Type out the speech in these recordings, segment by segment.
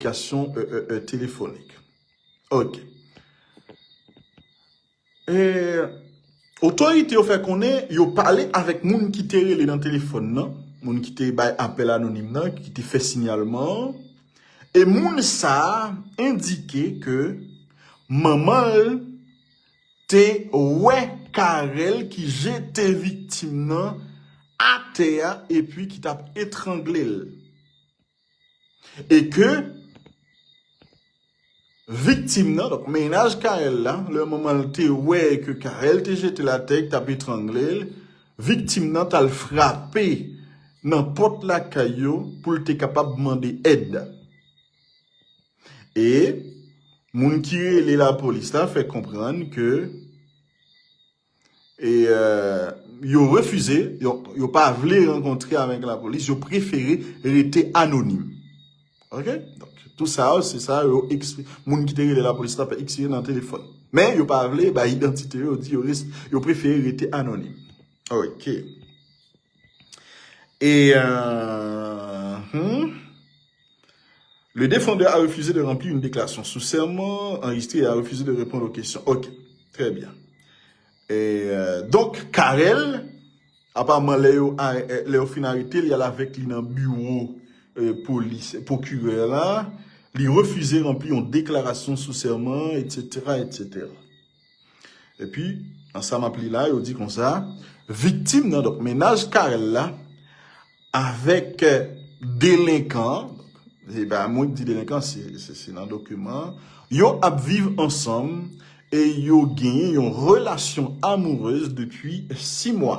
Kominikasyon telefonik. Ok. Otorite yo fè konnen yo pale avèk moun ki te rele nan telefon nan, moun ki te bay apèl anonim nan, ki te fè sinyalman an, e moun sa a endike ke manman l te wè Carel ki jete viktim nan atè a epi ki t ap etrangle l. E ke viktim nan, donk mennaj Carel la, lè manman l te wè ke Carel te jete l atè, ki t ap etrangle l, viktim nan t al frape nan pòt lakay yo pou l te kapab mande èd. E moun ki rele lapolis la fè konprann ke E yo refize, yo pa vle rankontre avèk la polis, yo prefere rete anonim. Ok, donk tout sa yo, se sa yo eksplike, moun ki te rele la polis la pa eksplike nan telefòn. Men yo pa vle bay idantite yo, yo prefere rete anonim. Ok. E, euh, hum. Le defandè a refize de ranpli youn deklarasyon sou sèman anrejistre e a refize de reponn o kesyon. Ok. Trè byen. Donk, Carel, apaman lè yo lè yo fin arete l, y al avèk li nan biwo polis, pwokirè la, li refize ranpli youn deklarasyon sou sèman, etsetera, etsetera. Epi, nan sa m ap li la, yo di konsa, viktim nan, donk mennaj Carel la, avèk delenkan an, se pa mwen ki di delenkan, se nan dokiman an, yo ap viv ansanm e yo genyen yon relasyon amourez depi 6 mwa.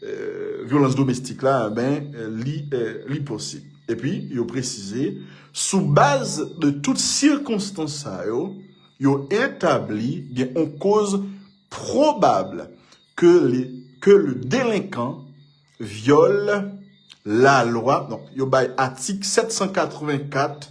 vyolans domestik la, enben li posib. Epi, yo presize, sou baz de tout sikonstans sa yo, yo etabli gen yon koz pwobab ke le delenkan vyole lalwa, yo bay atik 784,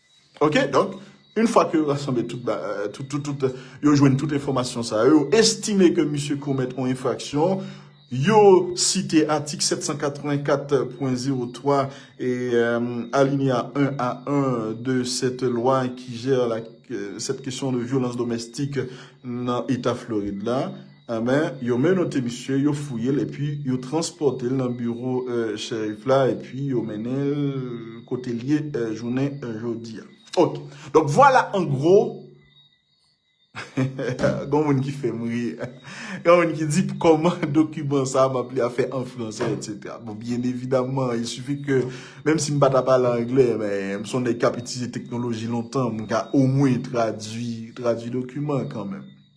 Ok donk yn fwa ke yo rasanble tout ba tout tout tout yo jwenn tout enfòmasyon sa yo estime ke misye komèt yon enfraksyon yo site atik 784.03 e alineya 1 a 1 de sèt lwa ki jè la sèt kesyon de vyolans domèstik nan eta Florid la. Enben, yo menote misye, yo fouye l epi yo transpòte l nan biwo Sheriff la epi yo mennen l kote l ye jounen jodi a. Ok. Donk vwala an gwo, gon moun ki fè m ri, gen moun ki di kòman dokiman sa a m ap li a fè an fransè etsetera. Bon, byen evidamman, il suffit ke menm si m pa ta pale angle, men m son nèg k ap itilize teknoloji lontan, m ka omwen tradui dokiman kanmenm.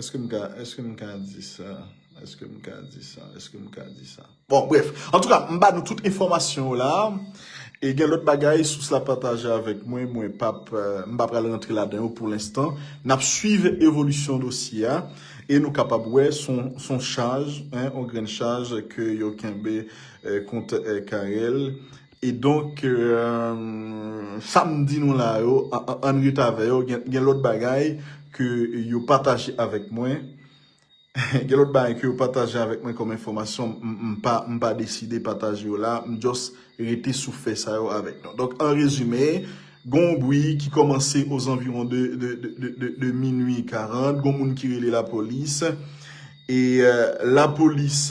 Eske m ka, eske m ka di sa, eske m ka di sa, eske m ka di sa. Bon bref, antouka m ba nou tout enfòmasyon yo la, e gen lòt bagay sous la pataje avèk mwen, mwen pa p, m pa pral rantre ladan yo pou lenstan. N ap swiv evolisyon dosye a, e nou kapab wè s on, s on chaj, on grenn chaj ke yo kenbe kont Carel. E donk, sa m di nou la yo, ann ret avè yo, gen lòt bagay ke yo pataje avèk mwen, gen lòt bagay ke yo pataje avèk mwen kòm enfòmasyon, m pa deside pataje yo la, m jòs rete sou fè sa yo avèk nou. Donk, an rezime, gen yon bwi ki kòmanse ozanviwon de minui 40, gen yon moun ki rele lapolis, e lapolis...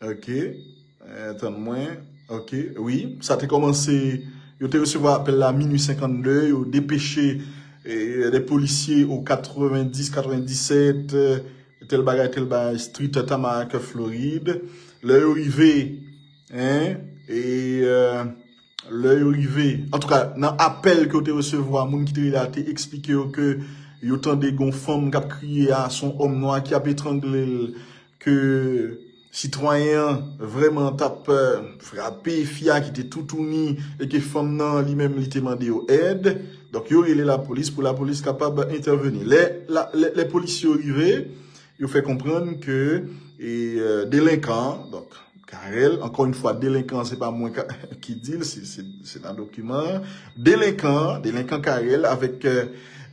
Ok tann mwen ok wi sa te komanse yo te resevwa apel la minwi 52 yo depeche de polisye ou 90 97 tel bagay tel bagay street Tamarack Florid lè yo rive lè yo rive an tou ka nan apel ke yo te resevwa moun ki te rele a te eksplike yo ke yo tande gon fanm kap kriye a son om nwa ki ap etrangle l ke sitwayen an vrèman t ap frape fi a ki te toutouni e ke fanm nan li menm li te mande yo èd. Donk yo rele lapolis pou lapolis kapab entèveni. Lè polisye yo rive, yo fè konprann ke delenkan an, donk Carel, ankò yon fwa delenkan an se pa mwen ki di l, se nan dokiman an, delenkan an, delenkan Carel avèk,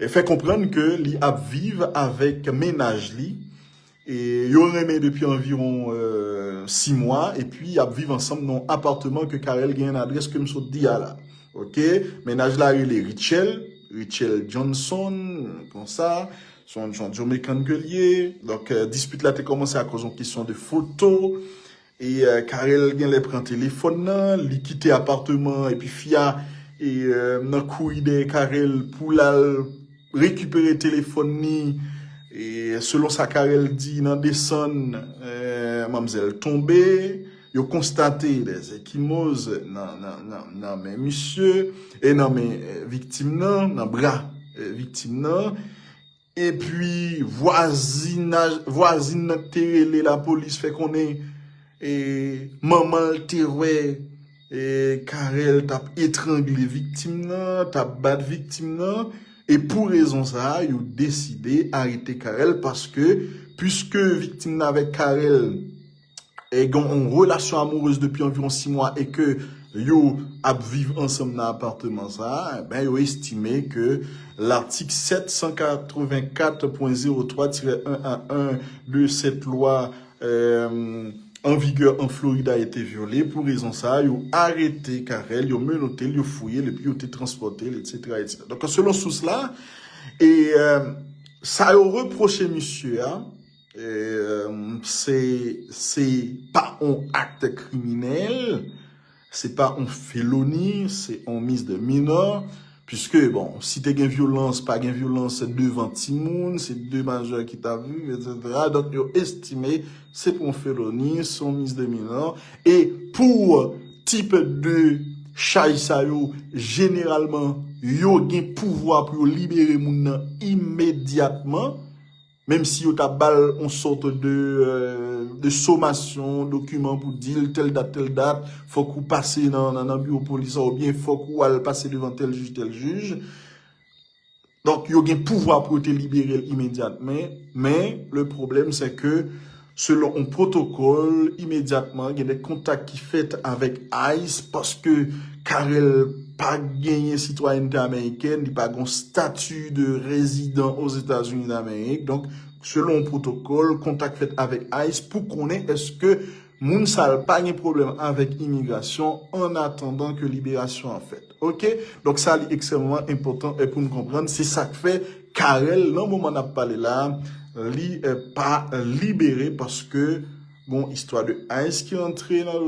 fè konprann ke li ap viv avèk mennaj li, Yo renmen depi anviwon 6 mwa epi y ap viv ansanm nan yon apatman ke Carel genyen nan adrès ke m sot di a la. Ok. Mennaj la rele Rutshelle, Rutshelle Johnson, konsa. Se yon Jamaican ke l ye. Donk, dispit la te kòmanse akoz yon kesyon de foto. E Carel genlè pran telefòn nan li kite aparteman an epi fi a nan kouri dèyè Carel pou lal rekipere telefòn ni selon sa Carel di nan desann manmzèl tonbe yo konstate des ekimoz nan men misye nan men viktim nan nan bra viktim nan. Epi vwazinaj vwazin nan k te rele lapolis fè konnen manman l te wè Carel t ap etrangle viktim nan, t ap bat viktim nan e pou rezon sa a yo deside arete Carel paske piske viktim nan avèk Carel e gen yon relasyon amourez depi anviwon 6 mwa e ke yo ap viv ansanm nan apateman sa a, enben yo estime ke latik 784.03 tirè 1 a 1 de sèt lwa an vigè an Florid a ete vyole. Pou rezon sa a, yo arete Carel, yo menote l, yo fouye l epi yo te transpòte l, etsetera, etsetera. Donk, selon sous la, e sa yo repwoche misye a, Se pa on acte kriminèl, se pa on feloni, se on mis de minò, piske bon, si te gen vyolans, pa gen vyolans, se devan timoun, se de majè ki ta viv, et cetera, donk yo estime se pou on feloni, se on mis de minò, e pou tip de chaj sa yo, jeneralman, yo gen pouvwa pou yo libere moun nan imedyatman. Menm si yo ta ba l yon sòt de somasyon, dokiman pou di l tèl dat, tèl dat, fòk ou pase nan biwo polis la oubyen fòk ou al pase devan tèl jij, tèl jij. Donk yo gen pouvwa pou yo te libere l imedyatmen. Men, le pwoblèm se ke. Selon yon pwotokòl, imedyatman gen de kontak ki fèt avèk ice paske Carel pa genyen sitwayènte amerikèn, li pa gen yon stati de rezidan Ozetazini Damerik. Donk, selon yon pwotokòl, kontak fèt avèk ice pou konnen èske moun sa l pa gen pwoblèm avèk imigrasyon annatandan ke liberasyon an fèt. Ok donk sa li ekstrèmman enpòtan pou n konprann se sak fè Carel nan moman n ap pale la li pa libere paske gon istwa de ice ki antre nan.